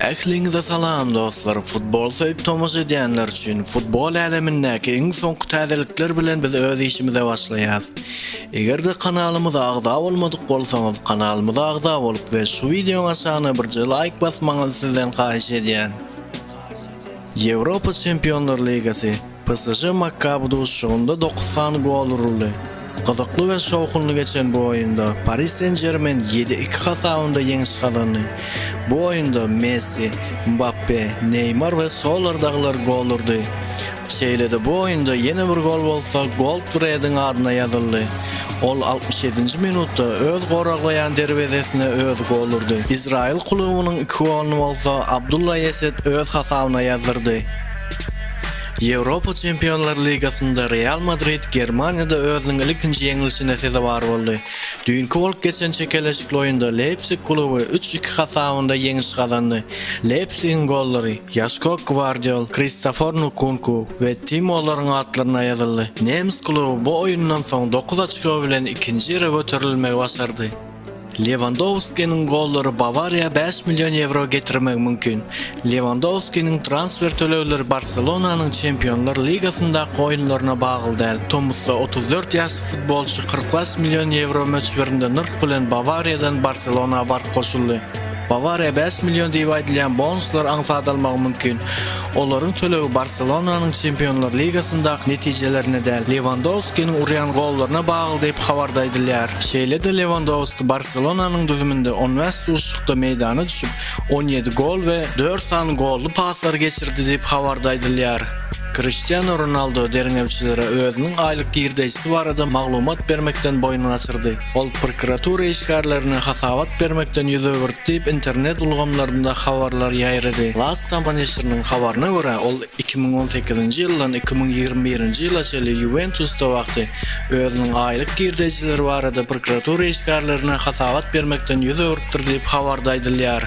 Ähliňize salam dostlar futbol söýüp tomaşa edýänler üçin futbol älemindäki iň soňky täzelikler bilen biz öz işimize başlaýas. Eger-de kanalymyza agza bolmadyk bolsaňyz kanalymyza agza bolup we şu wideoň aşagyna birje laýk basmagyňyzy sizden haýyş edýän. Ýewropa Çempionlar ligasy PSŽ Makkaby duşuşygynda dokuz sany gol uruldy. Gyzykly we şowhunly geçen bu oýunda Pari Sen-Žermen ýedi iki hasabynda ýeňiş gazandy. Bu oýunda Messi, Mbappe, Neýmar we Solar dagylar gol urdy. Şeýle-de bu oýunda ýene bir gol bolsa Goldfrediň adyna ýazyldy. Ol altmyş ýedinji minutda öz goraglaýan derwezesine özi gol urdy. Izraýyl klubynyň iki goluny bolsa Abdullah Eset öz hasabyna ýazdyrdy. Ýewropa Çempionlar ligasynda Real Madrid Germaniýada özüniň ilkinji ýeňlişine sezewar boldy. Düýnki bolup geçen çekeleşikli oýunda Leýpsig kluby üç iki hasabynda ýeňiş gazandy. Leýpsigiň gollary Ýaşko Gwardiol, Kristofor Nkunku we Tim Mollaryň atlaryna ýazyldy. Nemes kluby bu oýundan soň dokuz oçko bilen ikinji ýere göterilmegi başardy. Lewandowskiniň gollary Bawariýa bäş million ýewro getirmegi mümkin. Lewandowskiniň transfer tölegleri Barselonanyň Çempionlar ligasyndaky oýunlaryna bagly däl. Tomusda otuz dört ýaşly futbolçy kyrk bäş million ýewro möçberinde nyrh bilen Bawariýadan Barselona baryp goşuldy. Bawariýa bäş million diýip aýdylýan bonuslar aňsat almagy mümkin. Olaryň tölegi Barselonanyň Çempionlar ligasyndaky netijelerine däl, Lewandowskiniň urýan gollaryna bagly diýip, habarda aýdylýar. Şeýle-de Lewandowski Barselonanyň düzüminde on bäş duşuşykda meýdana düşüp, on ýedi gol we dört sany golly paslar geçirdi diýip, habarda aýdylýar. Kriştianu Ronaldo derňewçilere özüniň aýlyk girdeýjisi barada maglumat bermekden boýun gaçyrdy. Ol prokuratura işgärlerine hasabat bermekden ýüz öwürdi diýip, internet ulgamlarynda habarlar ýaýrady. Lastama neşiriniň habaryna görä, ol iki müň on sekizinji ýyldan iki müň ýigrimi birinji ýyla çenli Ýuwentusda wagty özüniň aýlyk girdejileri barada prokuratura işgärlerine hasabat bermekden ýüz öwrüpdir diýip, habarda aýdylýar.